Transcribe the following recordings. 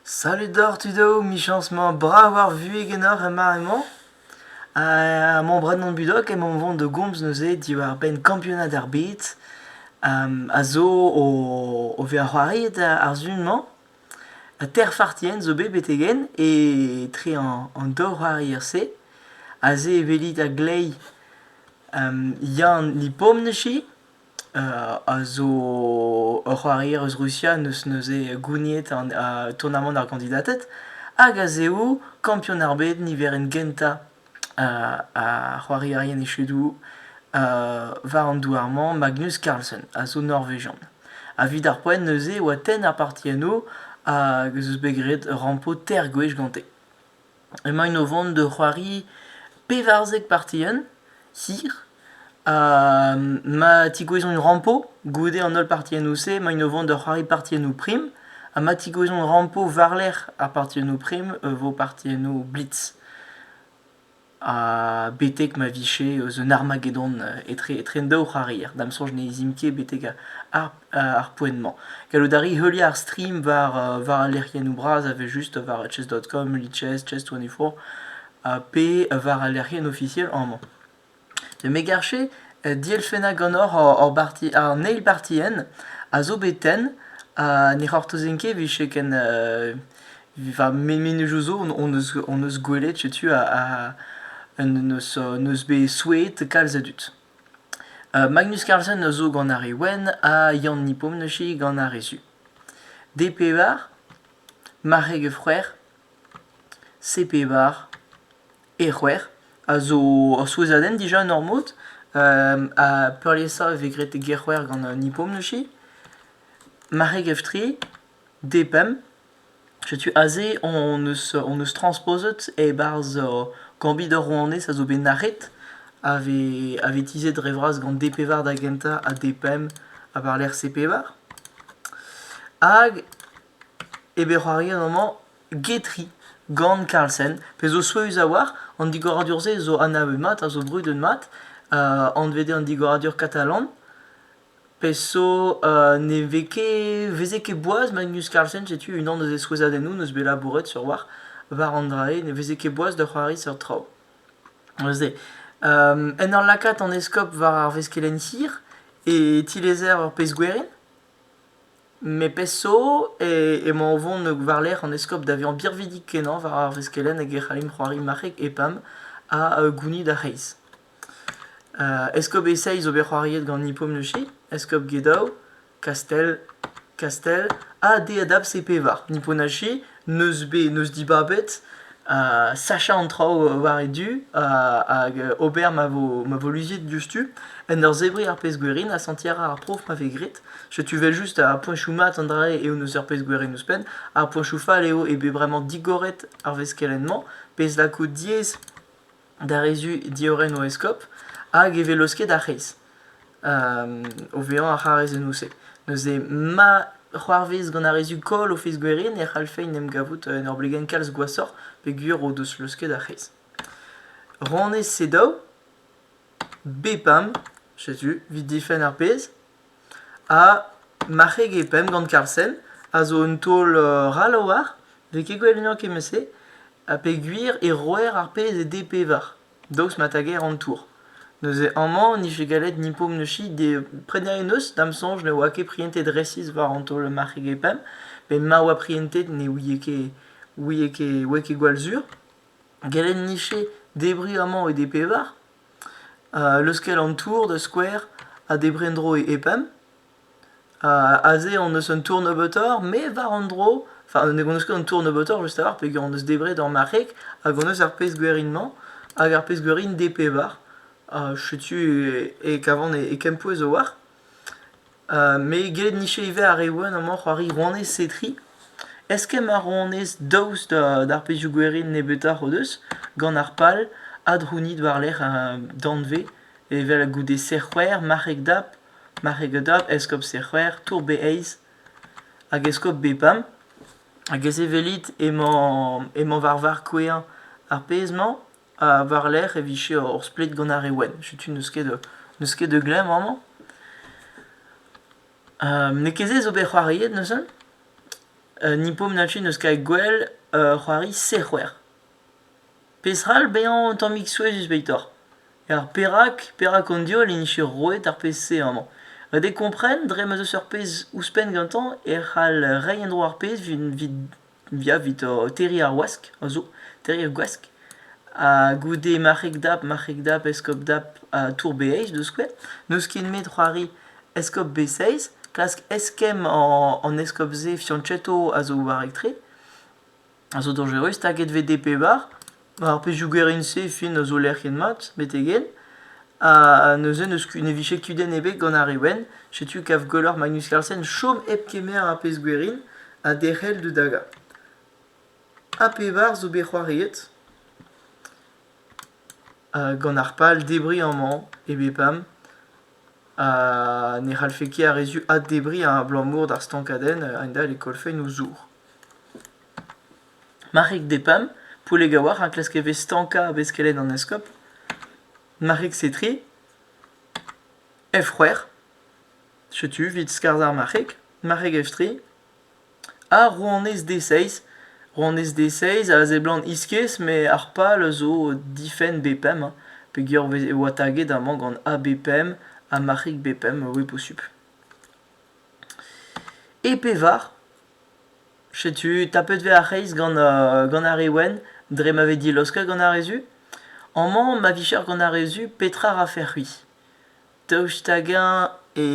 Salut doc'h tudo, michañs-mañ brav ar vuhez ganeoc'h er mare-mañ. Ha mañ Brandon Budok emañ o vont da gomz neuze diwar-benn kampionad ar bed a zo o vezañ c'hoariet ar sizhun-mañ. Teir fartienn zo bet betek-henn etre an daou c'hoarier-se. Aze e welit a-gleiz Yann Lipomnechy a zo ur c'hoarier eus Rusia n'eus neuze gouniet tournamant ar gandidated hag a zev kampion ar bed niverenn gentañ ar c'hoarierien echedoù war an douar-mañ Magnus Carlsen a zo norvejian. Evit ar poent neuze e oa tenn ar parti enno hag ez eus bet graet ur rampo teir gwech gante. Emaint o vont da c'hoari pevarzek partien hir ha ma tigouezont rampo goude an holl partiennoù-se emaint o vont da c'hoari partiennoù prim ha ma tigouezont rampo war-lerc'h ar partiennoù prim e vo partiennoù blitz. Ha betek ma vije eus un Armageddon etre etre an daou c'hoarier, da'm soñj ne zimp ket betek ar ar poent-mañ. Gallout a ri heuliañ ar stream war, war al lec'hiennoù bras evel-just war chess.com, lichess24, pe war al lec'hienn ofisiel amañ. Me garfe dielfennañ ganeoc'h hor barti, an eil bartienn a zo bet tenn ha ne c'hortozen ket vije ken va mennozhioù zo hon eus hon eus gwelet setu a eus bet souezhet kalz a dud. Magnus Carlsen a zo gant ar re wenn ha Yann Nipom neuze gant ar re su. D-pevar, marc'heg e c'hwec'h, C-pevar e c'hwec'h a zo ur souezhadenn dija en hor mod ha peurliesañ e vez graet e gêr-c'hwec'h gant Nipom neuze. Marc'heg F-tre, D-pemp. Setu aze hon eus hon eus transposet e-barzh Gambit ar Rouanez a zo bet nac'het a vez a vez tizhet dre vras gant D pevar da gentañ ha D pemp ha war-lerc'h C pevar. Hag e vez c'hoariet amañ Getri gant Carlsen, pezh zo souezhus a-walc'h. An digoradur-se zo anavet mat, a zo brudet mat, anvet eo an digoradur katalan. Pezh zo ne vez ket, veze ket boaz ma News Carlsen, setu unan eus e souezhadennoù 'neus bet labouret sur war, war an dra-se, ne veze ket boaz da c'hoari seurt traoù. Neuze en ur lakaat an eskob war ar veskelenn hir e tilezer ur pezh gwerin, met pezh zo emañ o vont war-lerc'h an eskob da vezañ birvidik-kenañ war ar veskelenn hag e c'hallimp c'hoari marc'heg EPAM ha gounid ar c'hreiz. Eskob Esaez zo bet c'hoariet gant Nippon Mushay, Eskob Gedao, Kastell Kastell ha Deadab Sepevar. Nippon Haché 'neus bet 'neus dibabet sachañ an traoù war e du hag ober ma vo ma vo luziet diouzhtu en ur zebriñ ar pezh-gwerin ha sentiñ a ra ar prof ma vez graet. Setu 'vel just ar poeñchoù mat an dra-se eo 'neus ur pezh-gwerin ouzhpenn. Ar poeñchoù fall eo eo bet bremañ digoret ar veskelenn-mañ, pezh lako diaes d'ar re-zu diorren o eskob, hag e velos ket ar c'hez. o vezañ ar c'harrezennoù-se. Neuze, ma c'hoarvez gant ar re-zu koll o fezh gwerien e c'hallfe en em gavout en ur blegenn kalz gwashoc'h peogwir o deus laosket ar c'hez. Rannet se daou, bepam, setu, 'vit difenn ar pezh, Ha marc'heg e pemp gant Karlsen a zo un taol ral a-walc'h, n'eo ket gwell ganeoc'h kement-se ha peogwir e roer ar pezh e D-pevar daoust ma tager an tour. Neuze amañ n'ije gallet ni Pomnossi prenañ e neuz da'm soñj ne oa ket prientet resis war an taol marc'heg e pemp met ma oa prientet ne ouie ket ouie ket ouie ket gwall sur. Gallet 'nije debriñ amañ e D-pevar leuskel an tour da skouer ha debriñ en-dro e pemp. aze hon eus un tour nebeutoc'h met war an dro enfin hon eus ket an tour nebeutoc'h just a lâr peogwir hon eus debret ur marc'heg hag hon eus ar pezh gwerin-mañ hag ar pezh gwerin DP bar. setu e kavan e kempouez zo war. Me get niche ivez ar re wenn amañ c'hoari rouanez Setri. Eskemm ar rouanez daoust d'ar pezhioù gwerin nebeutoc'h o deus gant ar pal adrounit war-lerc'h danvez evel goude serc'hwec'h, marc'heg dap, marc'heg dap, eskob serc'hwec'h, tour be eizh hag eskob be pemp. Hag ez evelit emañ emañ war varc'h kouezhañ ar pezh-mañ. Ha war-lerc'h e vije ur splet gant ar re wenn. Setu n'eus ket da n'eus ket da glemm amañ. n'eo ket se zo bet c'hoariet neuze. ni pompnachu n'eus ket gwell c'hoari sec'hwer. Peseurt bezañ un tammig souezhus 'betoc'h? Ar perak perak an diol en dije roet ar pezh-se amañ. Ha de kompren dre ma'z eus ur pezh ouzhpenn gantañ e c'hall reiñ en-dro ar pezh 'vit Ya, evit o terriñ ar wask a zo, terriñ ar gwask ha goude marc'heg-dap, marc'heg-dap, eskob-dap ha tour-beaj da skouer. N'eus ket nemet c'hoari eskob-bez-seiz, klask eskemm an eskob-se fianchetto a zo war-rak-tre, a zo dañjerus, staget 'vez DP bar. Ar pezhioù gwerin-se fin a zo lec'hiet mat betek-henn ha neuze n'eus ket- ne vije ket kudenn ebet gant ar re wenn. Setu kav gwelloc'h Magnus Carlsen chom hep kemer ar pezh gwerin ha derc'hel da dagañ. Ha pevar zo bet c'hoariet. gant ar pal debriñ amañ e bepam. Ha ne c'hallfe ket ar re zu addebriñ abalamour d'ar stankadenn a-hend-all e kollfent o zour. Marc'hig Depam, Poulegaouar a klask e vez stankañ a beskelenn an eskob. Marc'hig Setri, Efc'hwec'h, setu evit skarzhañ ar marc'hig. Marc'hig Eftri, ha Rouanez Deseiz. Rouanez Deseiz a seblant iskis met ar pal a zo difenn Bepem hein, peogwir e oa taget amañ gant A Bepem ha marc'hig Bepem, oui posupl. E pevar, setu tapet 'vez ar c'hreiz gant gant ar re wenn dre ma vez dilaosket gant ar re zu. Amañ ma vicher gant ar re zu petra 'rafec'h-c'hwi? Daoust hag-eñ e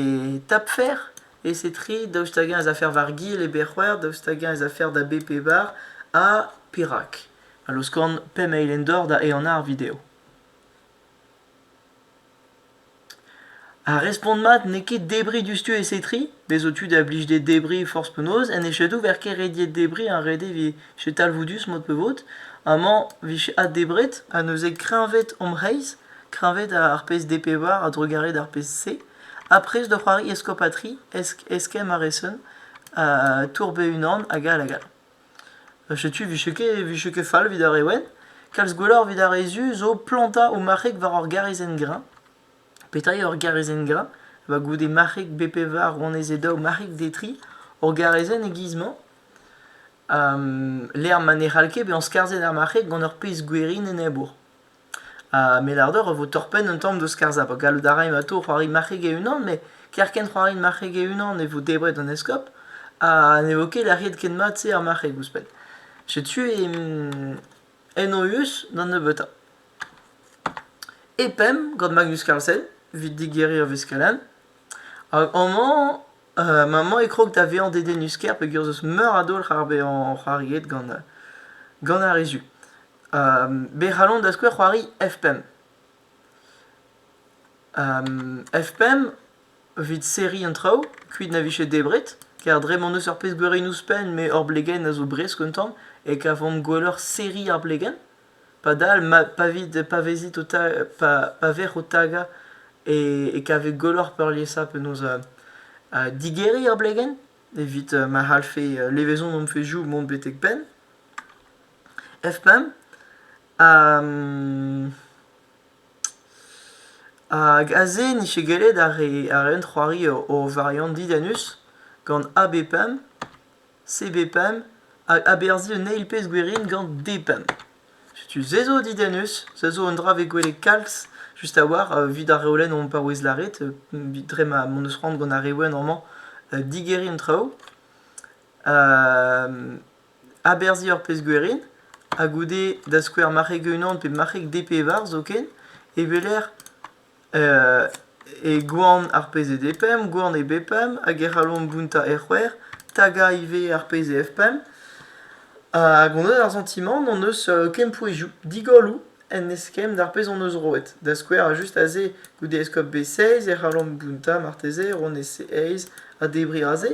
tapfer e-se-tri? Daoust hag-eñ ez afer war gil e berr-c'hwec'h? Daoust hag-eñ ez afer da be pevar? Ha perak? A-laoskon p'email en dor da ehanañ ar video. Ar respont mat n'eo ket debriñ diouzhtu e setriñ, bez' zo tu da blijde debriñ forzh penaos en echedoù ver ket rediet debriñ ar rede evit echedoù talvoudus mod pe vod. Amañ 'vije addebret ha neuze kreñved hom c'hreiz, kreñved ar pezh D pevar a-drugarez d'ar pezh C. Ha prest da c'hoari eskob ha tri, eskemm a resen, tour be-unan hag all hag all. Setu 'vije ket, 'vije ket fall 'vit ar re wenn. Kalz gwelloc'h 'vit ar re zu zo plantañ o marc'heg war ur garizenn-greñv. Petra eo ur garizenn-greñv? Eo goude marc'heg bet pevar rouanezed daou marc'heg detri ur garizenn e-giz-mañ. lec'h ma ne c'hall ket bezañ skarzhet ar marc'heg gant ur pezh gwerin enebour. Ha melardeur a vo torr-penn un tamm deus skarzhañ pa gallout a ray evelato c'hoari marc'heg e-unan met kerkent c'hoari marc'heg e-unan e vo debret an eskob ha ne vo ket lec'hiet ken mat-se ar marc'heg ouzhpenn. Setu en o eus d'an nebeutañ. E pemp gant Magnus Carlsen evit digeriñ ur veskellin. Hag amañ maman e krog da vezañ dedennus-kaer peogwir 'z eus meur a dolc'h ar bezañ c'hoariet gant gant ar re zu. Be c'hallont da skouer c'hoari F5. F5, evit serriñ an traoù, kuit na vije debret, kar dre m'hon eus ur pezh beurenn ouzhpenn met hor blegenn a zo bresk un tamm e kavomp gwelloc'h serriñ ar blegenn. Padal, ma pa vit pa vezit o ta- pa pa vec'h o tagañ e e kavit gwelloc'h peurliesañ penaos digeriñ ar blegenn evit ma c'hallfe levezon hon fezhioù mont betek penn. F-pump hag aze n'int ket gellet ar re ar eun c'hoari o variant didannus gant AB-pump, CB-pump hag aberzhi un eil pezh gwirin gant D-pump. Setu se zo didannus, se zo un dra vez gwelet kalz just a-walc'h evit ar reolenn on paouez lâret dre ma m'hon eus c'hoant gant ar reolenn amañ digeriñ an traoù. Aberzhiñ ur pezh gwerin, ha goude da skouer marc'heg e-unan pe marc'heg D-pevar zoken, e weler e gwan ar pezh eo D-pemp, gwan eo B-pemp, hag e c'hallomp gountañ e c'hwec'h, tagañ ivez ar pezh eo F-pemp. Hag hon eus ar santimant hon eus kempouezioù, digolloù en eskemm d'ar pezh hon eus roet. Da skouer just aze goude eskob B-seiz e c'hallomp gountañ marteze ronez C-eizh ha debriñ aze.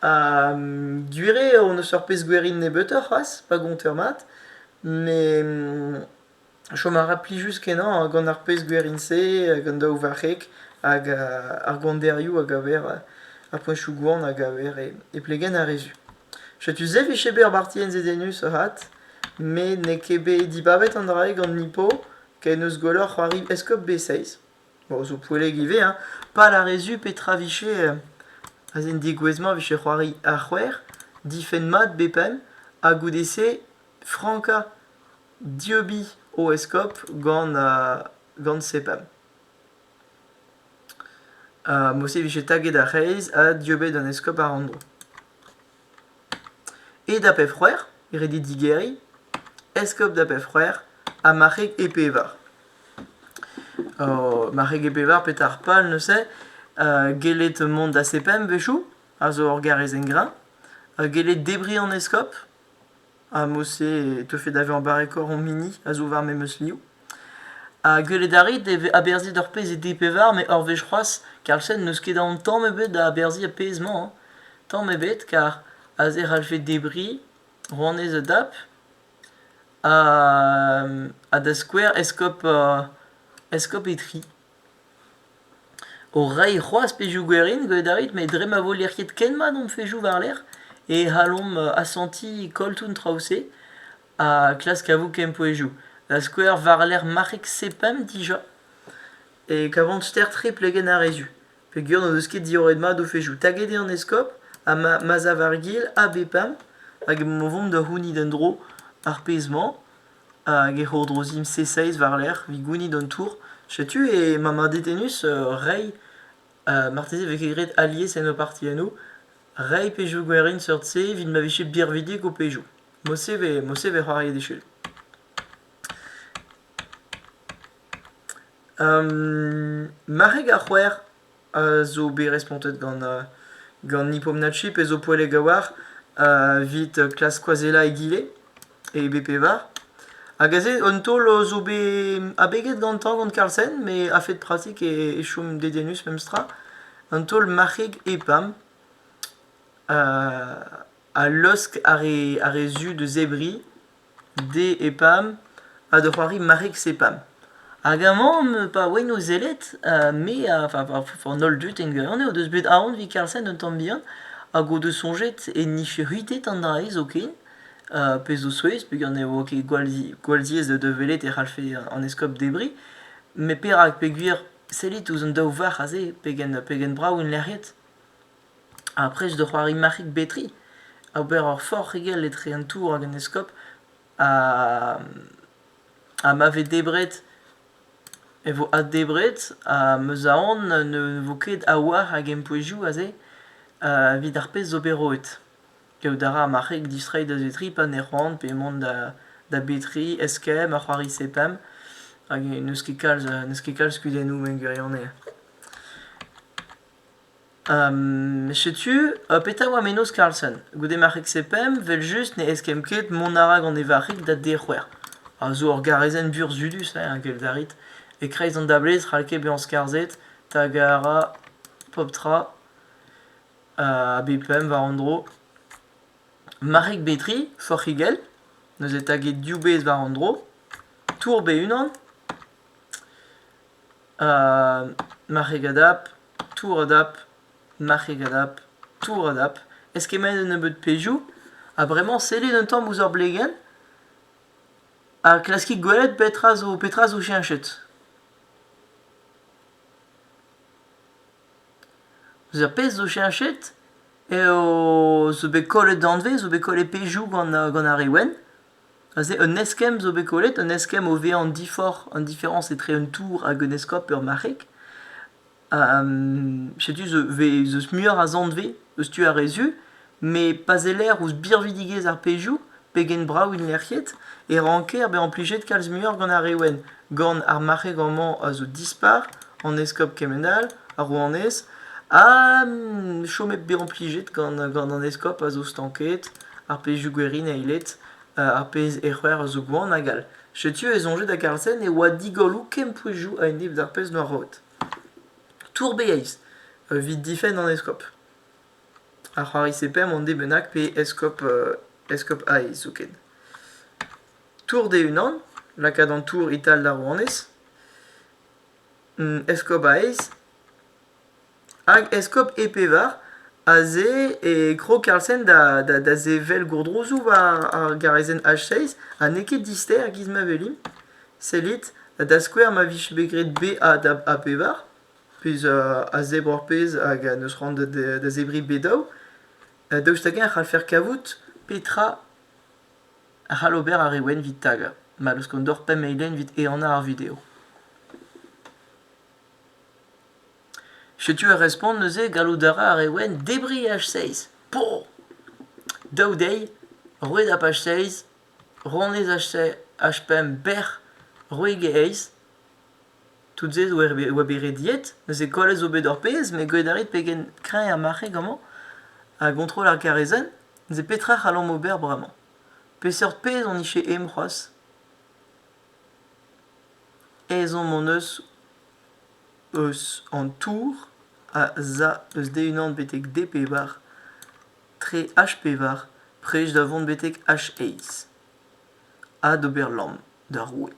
Gwir eo hon eus ur pezh gwerin nebeutoc'h c'hoazh pa gonteur mat met chom a ra plijus-kenañ gant ar pezh gwerin-se gant daou varc'heg hag ar gwanderioù a gaver ar poeñsoù-gwan a gaver e plegenn ar re zu. Setu-se 'vije bet ur barti enzedennus avat met n'eo ket bet dibabet an dra-se gant Nippo ken eus gwelloc'h c'hoari eskob B6. Bon, zo poelleg ivez, hein. Pad ar re zu, petra vije, aze en degouezh-mañ vije c'hoari ar c'hwec'h, difenn mat bep'enn, ha goude-se frankañ dieubiñ o eskob gant gant sepemp. Ha mod-se vije taget ar c'hreiz ha dieubet an eskob àr an dro. E da pep c'hwec'h, redi digeriñ, eskob da pep c'hwec'h ha marc'heg e pevar. Oh, marc'heg e pevar, petra ar pal neuze? gellet mont da sepemp a-wechoù, a zo ur garrez engrañ, gellet debriñ an eskob. Ha mod-se e teufe da vezañ barrekoc'h hom hini a zo war memes liv. Ha gwelet a rit e vez aberzhiet ar pezh e dek pevar met ur wech c'hoazh Karlsen n'eus ket aon tamm ebet da aberzhiñ ar pezh-mañ hein. Tamm ebet kar aze e c'hallfe debriñ rouanez Dap ha da skouer eskob eskob Itri. O reiñ c'hoazh pezhioù gwerin gwelet a rit met dre ma vo lec'hiet ken mat hom fezhioù war-lerc'h e c'hallomp asentiñ koll tout an traoù-se ha klask kavout kempouezioù. Da skouer war-lerc'h marc'heg sepemp dija e kavan ster-tre plegenn ar re zu peogwir n'o deus ket diorret mat o fezhioù. Taget eo an eskob ha ma ma'z a war gil a bepemp hag emañ o vont da c'hounit en-dro ar pezh-mañ. Hag e c'hourdrozimp C6 war-lerc'h 'vit gounit an tour. Setu e ma madetenus reiñ, marteze e vez ket graet alies en ho partiennoù, reiñ pezhioù gwerin seurt-se evit ma vije birvidik ho pezhioù. Mod-se 'vez mod-se 'vez c'hoariet echu. marc'heg ar c'hwec'h a zo bet respontet gant gant Nipomnatchi, pezh zo poellek a-walc'h, evit klask skoazellañ egile e bepevar. Hag aze un taol zo bet abeget gantañ gant Carlsen, met a-fet pratik e chom dedennus memestra. Un taol marc'heg EPAM a laosk ar re ar re zu da zebriñ D e pam ha da c'hoari Marix e pam. Hag amañ am eus pa oan o sellet, ha me ha va va an holl dud en gwirionez o deus bet aon evit Carlsen un tamm bihan hag o deus soñjet e nijfe c'hwitet an dra-se zoken, pezh zo souezh peogwir ne vo ket gwall zi gwall ziaes da velet e c'hallfe an eskob debriñ. Met perak? Peogwir sellit ouzh an daou varc'h aze pegen pegen brav int lec'hiet. Ha prest da c'hoari marc'hig betri, ober ur forc'higell etre an tour hag an eskob ha ha ma vez debret e vo addebret ha ma 'z aon ne vo ket a-walc'h a gempouezioù aze evit ar pezh zo bet roet. Kaout a ra ar marc'heg distreiñ da vetri pa ne c'hoant pe mont da da betri, eskemm ha c'hoari sepemp hag n'eus ket kalz n'eus ket kalz kudennoù en gwirionez. Setu, petra oa mennozh Carlsen? Goude marc'heg pemp, vel-just ne eskemm ket mont a ra gant e varc'hig da dec'hwer. A zo ur garezenn burzhudus, hein, gell darit. E-kreiz an dablez, c'hall ket bezañ skarzhet, tag a ra pep tra a bep pemp war un dro. Marc'heg Betri, forc'higell, neuze taget div bezh war un dro. Tour be unan. marc'heg adap, tour adap, marc'heg adap, tour adap, eskemmaet un nebeud pezhioù ha bremañ sellit un tamm ouzh ur blegenn ha klaskit gwelet petra zo petra zo cheñchet. Ouzh ar pezh zo cheñchet eo zo bet kollet danvez, zo bet kollet pezhioù gant ar re wenn. Aze un eskemm zo bet kollet, un eskemm o vezañ an diforc'h, an diferañs etre un tour hag un eskob pe ur marc'heg. setu eus muioc'h a zanvez eus tu ar re zu, met pa seller ouzh birvidigezh ar pezhioù, pegen brav int lec'hiet, e ranker bezañ plijet kalz muioc'h gant ar re wenn. Gant ar marc'heg amañ a zo dispar, an eskob kement all, ar rouanez, ha chomet bezañ plijet gant an eskob a zo stanket. ar pezhioù gwirion eilet, ar pezh ec'hwer a zo gwan hag all. Setu e soñjed hag ar sen e oa digolloù kempouezioù a-enep d'ar pezh 'noa roet. Tourbeiz evit difenn an eskob. Ar c'hoari-se pemp an de bennak pe eskob eskob Aiz zoken. Tour d'e-unan, lakaat an tour e-tal d'ar rouanez. Eskob Aiz Hag eskob e pevar aze e krog Karlsen da da da sevel gourdrouzioù war ar garazenn H6 ha n'eo ket dister e-giz ma welimp. Sellit, da skouer ma vije bet graet B, A da A pevar, pezh a zebr ur pezh hag n'eus c'hoant da zebriñ B daou, daoust hag-eñ e c'hallfer kavout petra a c'hall ober ar re wenn evit tagañ ma laoskont deoc'h pemp eilenn evit ehanañ ar video. Setu ar respont neuze, gallout a ra re wenn debriñ H6. Po! Daou deiz, roued ha paj seizh, ronez H5 bec'h, roueg eizh. Tout se zo e oa bet rediet, neuze kollet zo bet hor pezh met gwelet a rit pegen kreñv ar marc'heg amañ a gontrol ar garezenn. Neuze petra c'hallomp ober bremañ? Peseurt pezh hon ije aimp c'hoazh? Ezhomm hon eus eus an tour a za eus D1 betek D-pevar tre H-pevar prest da vont betek H-eizh ha d'ober lamm d'ar roue.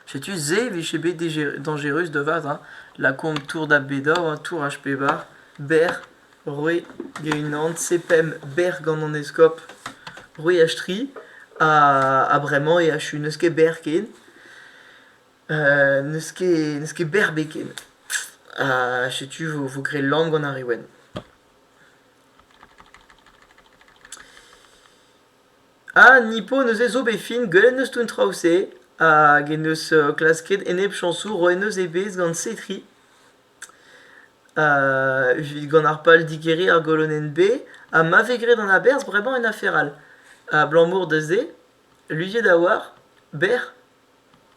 Setu se e vije bet dañjerus da vat, hein, lakaomp tour da Bedor, hein, tour H-pevar berr Roue Gwenanse pemp bec'h gant an eskob Roiastri, ha bremañ e achu n'eus ket bec'h ken. n'eus ket n'eus ket bec'h 'bet ken. Ha setu vo graet lamm gant ar re wenn. Ha Nippo neuze zo bet fin, gwelet 'neus tout an traoù-se, hag en-deus klasket enep chañsoù roet 'neus e bezh gant Setri. Evit gant ar pal digeriñ ar golonenn-B ha ma vez graet an aberzh bremañ en afer all. Abalamour da se, luziet a-walc'h, bec'h,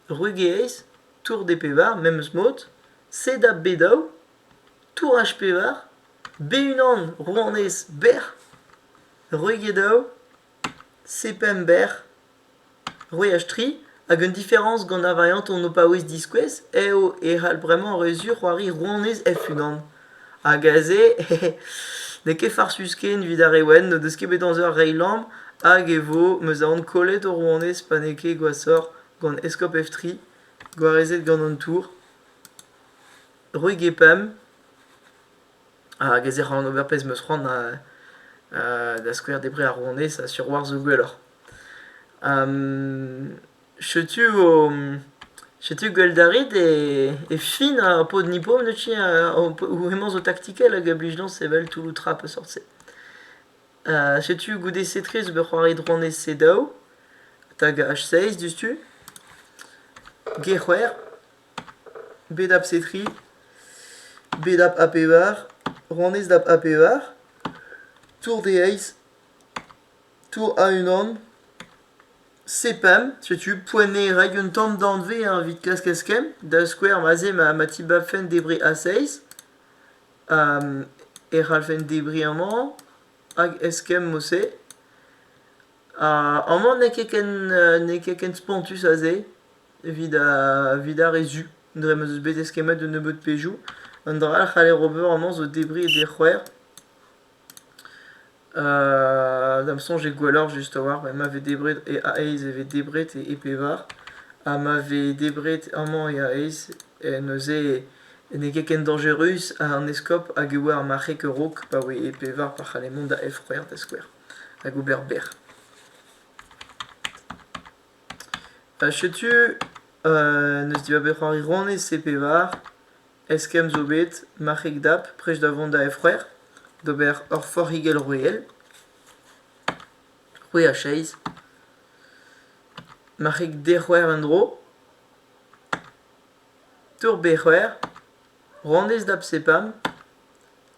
Rugeeiz, Tour des Pevar, memes mod, sed ha B daou, Touraj Pevar, B unan, Rouanez, bec'h, Ruge daou. Sepember, c'hwech tri, hag un diferañs gant ar variantoù ho paouez diskouez eo e c'hall bremañ re sur c'hoari Rouanez Hef-Unan. Hag aze n'eo ket farsus ken evit ar re wenn n'o deus ket bet amzer reiñ lamm hag e vo m'eus aon kollet ho rouanez pa n'eo ket gwashoc'h gant eskob Hef-tri gwarezet gant an tour. Roig e pemp. Hag ez ec'h an ober pezh 'm eus c'hoant da skouer debriñ ar rouanez sur war-zu gwelloc'h. Setu vo setu gwel't a rit e fin ar pod-nipom neuze hemañ zo taktikel hag a blij dezhañ sevel toulloù tra peseurt-se. Setu goude-se tre zo bet c'hoariet rouanez C daou hag H seizh diouzhtu. G c'hwec'h. bet a psetri, bet a a pevar, ranez da a pevar, tour d'e eizh, tour a-unan, sepemp, setu poent eo reiñ un tamm danvez evit klask eskemm, da skouer ma-se ma ma tibabfen debriñ a-seizh, e c'hallfen debriñ amañ hag eskemm mod-se, amañ n'eo ket ken n'eo ket ken spontus a-se. Evit ar re zu, dre ma 'z eus bet eskemmet un nebeud pezhioù. Un dra all a c'haller ober amañ zo debriñ e dec'hwec'h. Da'm soñj eo gwelloc'h just a-walc'h ma vez debret e a-aez e vez debret e pevar. Ha ma vez debret amañ e a-aez neuze n'eo ket ken dañjerus ha an eskob hag e oa ar marc'heg a-raok pa oe e pevar pa c'halle mont da Elfc'hwec'h da skouer hag ober bec'h. Ha setu n'eus dibaboe c'hoari ronez e pevar eskemm zo bet marc'heg dap prest da vont da Efre'r d'ober ur forc'higell roueel, c'hwec'h ha seizh, marc'heg dec'hwec'h en-dro, tour bec'hwec'h, ronez dap sepam,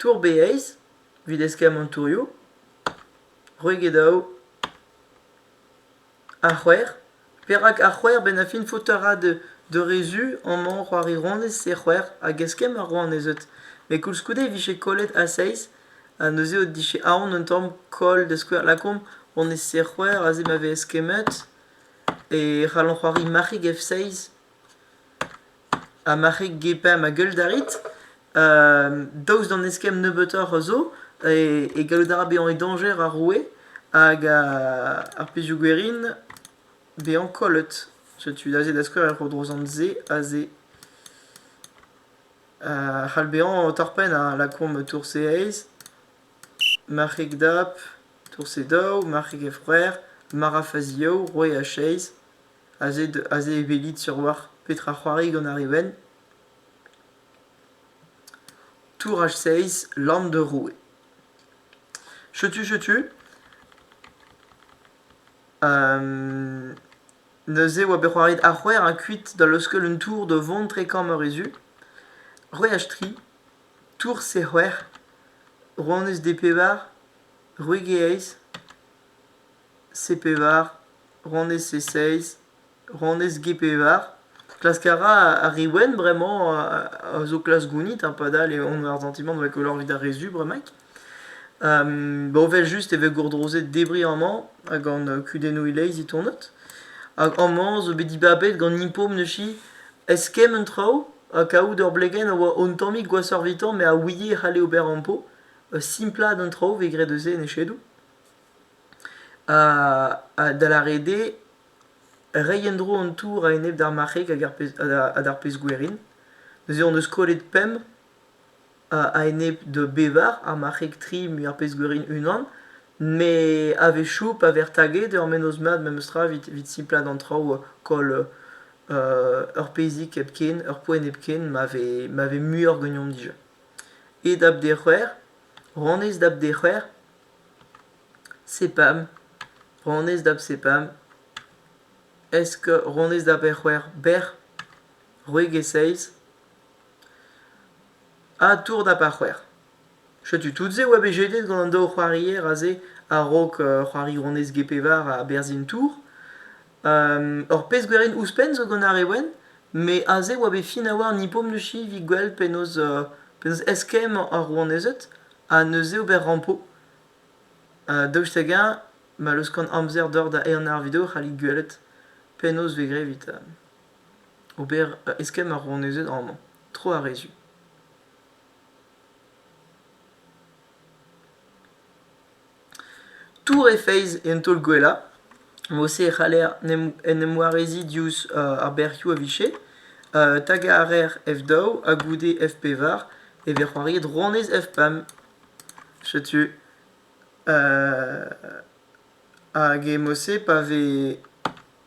tour beeizh evit eskemm an tourioù, c'hwek ha daou. Ar c'hwec'h Perak ar c'hwec'h benn ar fin faoutaat d'ur re zu amañ c'hoarironez e c'hwec'h hag eskemm ar rouanezed met koulskoude e vije kollet a seizh ha neuze o dije aon un tamm koll da skouer lakaomp honnezh e c'hwec'h aze ma vez eskemmet e c'hallomp c'hoari marc'hig F6 Ha ma c'hig gepañ ma geul da rit, daoust d'an eskemm nebeutoc'h a zo, e gallout a ra bezañ e dañjer ar roue hag ar pezhioù gwerin bezañ kollet. Setu aze da skouer er c'hodrozant-se aze. c'hall bezañ torr-penn ha lakaomp tourse aes, marc'heg dap, tourse daou, marc'heg a-frer, mara faziaou, roue a-chaez. Aze e welit sur-walc'h petra c'hoari gant ar re wenn. Touraj seizh, Lann de Roue. Chetu, chetu. neuze oa bet c'hoariet ar c'hwec'h a kuit da leuskel un tour da vont tre kamp Arezu. C'hwec'h ha tri, Tour C c'hwec'h, Rouanez des Pevar, Roueg e Aez, C-pevar, ronez C-seizh, ronez G-pevar. Klask a ra ar re wenn bremañ a zo klask gounit ha padal eo on ar santimant da goll evit ar re zu bremaik. Ba evel-just e vez gourdrozet debriñ amañ gant kudennoù e-leizh e tonod. Hag amañ zo bet dibabet gant Impom neuze eskemm un traoù ha kavout ur blegenn a oa un tammig gwashoc'h evitañ met a ouie e c'halle ober ampo. Simplaat an traoù 'vez graet eus se en echedoù. da lâret eo reiñ en-dro an tour a-enep d'ar marc'heg hag ar pezh-gwerin. Neuze hon eus kollet pemp a-enep da bevar, ar marc'heg tri met ar pezh-gwerin unan. Met a-wechoù pa vez taget ur mennozh mat memestra evit simplaat an traoù koll ur pezhig hepken, ur poent hepken ma vez muioc'h ganeomp dija. E dap dez c'hwec'h, honnezh dap dez c'hwec'h. sepam ronez da bsepam esk ronez da bec'hwec'h bec'h c'hwek e seiz ha tour da par c'hwec'h setu tout-se a oa bet jetet gant an daou c'hoarier aze a-raok c'hoari ronez g-pevar ha berzhin tour Ur pezh gwerin ouzhpenn zo gant ar re wenn, met aze e oa bet fin a-walc'h an hippomnushi evit gwell penaos penaos eskemm ar rouanezed ha neuze ober rampo. Daoust hag-eñ ma leuskan amzer deoc'h da ehan ar video e c'hallit gwelet penaos e vez graet evit ober eskemm ar rouanezed amañ, tro ar re zu. Tour he feiz en taol-gwellañ. Mod-se e c'haller en em wareziñ diouzh ar bec'hioù a vije. Tagañ a raer F daou ha goude F pevar e vez c'hoariet rouanez F pemp. Setu. Hag e mod-se pa vez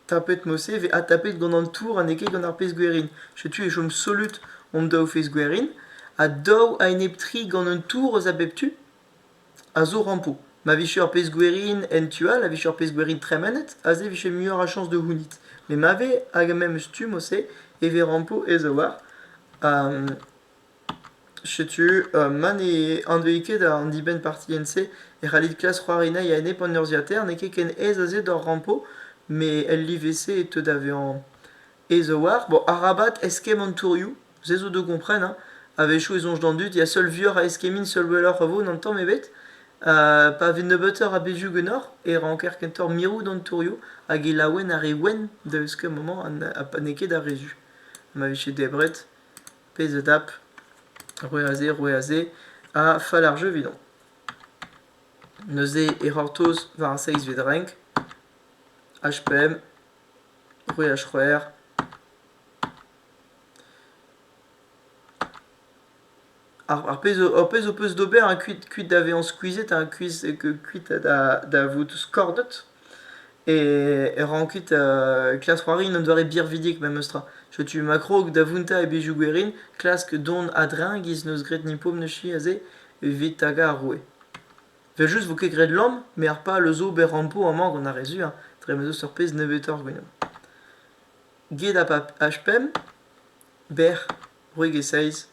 tapet mod-se e vez adtapet gant an tour ha n'eo ket gant ar pezh gwerin. Setu e chom solut hon daou feiz gwerin. Ha daou a-enep tri gant un tour eus a bep tu. a zo rampo. Ma vije ur pezh gwerin en tu all a vije ur pezh gwerin tremenet, aze e vije muioc'h a chañs da c'hounit. Met ma vez hag memes stumm o-se e vez rampo aes-a-walc'h. Ha setu ma ne anveit ket an dibenn-partilhenn-se e c'hallit klask c'hoari anezhi a-enep an urzhiataer. N'eo ket ken aes aze d'hor rampo, met el live-se e teu da vezañ aes a-walc'h. Bon, arabat eskemm an tourioù. Se zo da gompren, hein. A-wechoù e soñj d'an dud ya seul vuoc'h a eskemmin seul welloc'h a vo n'an tamm ebet. pa vez nebeutoc'h a bezhioù ganeoc'h e ranker kentoc'h mirout an tourioù hag e laouen ar re wenn da euskel maman ha n'eo ket ar re zu. Ma vije debret, pezh a dap, roer a se, roer a se, ha fall ar jeu evidomp. Neuze e c'hortoz war ar seizh vez renk, HPM, roer H-c'hwec'h, Ar pezh ho pezh ho peus d'ober hein, kuit kuit da vezañ skuizhet hein, kuit kuit da vout skordet e ran kuit klask c'hoari un doare birvidik memestra. Setu ma krog da vountañ e bezhioù gwerin, klask dont a-dreñv giz 'neus graet Nipom neuze aze evit tagañ ar roue. Evel-just 'vo ket graet lamm met ar pal eus ober rampo amañ gant ar re zu hein, dre ma 'z eus ur pezh nebeutoc'h ganeomp. get ar pab H-pemp, bec'h, c'hwek e seiz,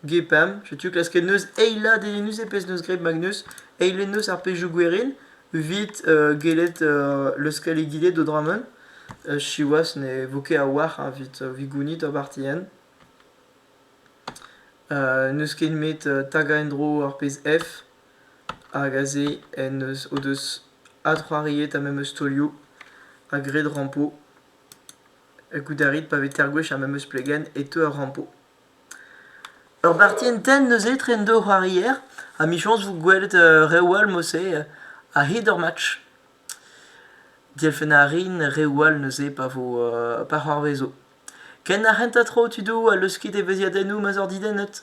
get pam, setu klasket neuz eilat eo neuze pezh 'neus graet Magnus, eilet neuz ar pezhioù gwerin evit gellet leuskel egile d'o dra-mañ, siwazh ne vo ket a-walc'h evit evit gounit ur barti hent. n'eus ket nemet tagañ en-dro ar pezh F. hag aze en deus o deus adc'hoariet ar memes taolioù ha graet rampo. Goût a rit pa vez tergwech ar memes plegenn e teu ar rampo. Ur parti entent neuze etre an daou c'hoarier ha michañs 'vo gwelet reoù all mouse a-hed ur match. Dielfennañ a rin reoù all neuze pa vo pa c'hoarvezo. Ken ar c'hentañ tro tudoù a leusket evezhiadennoù ma'z oc'h didennet.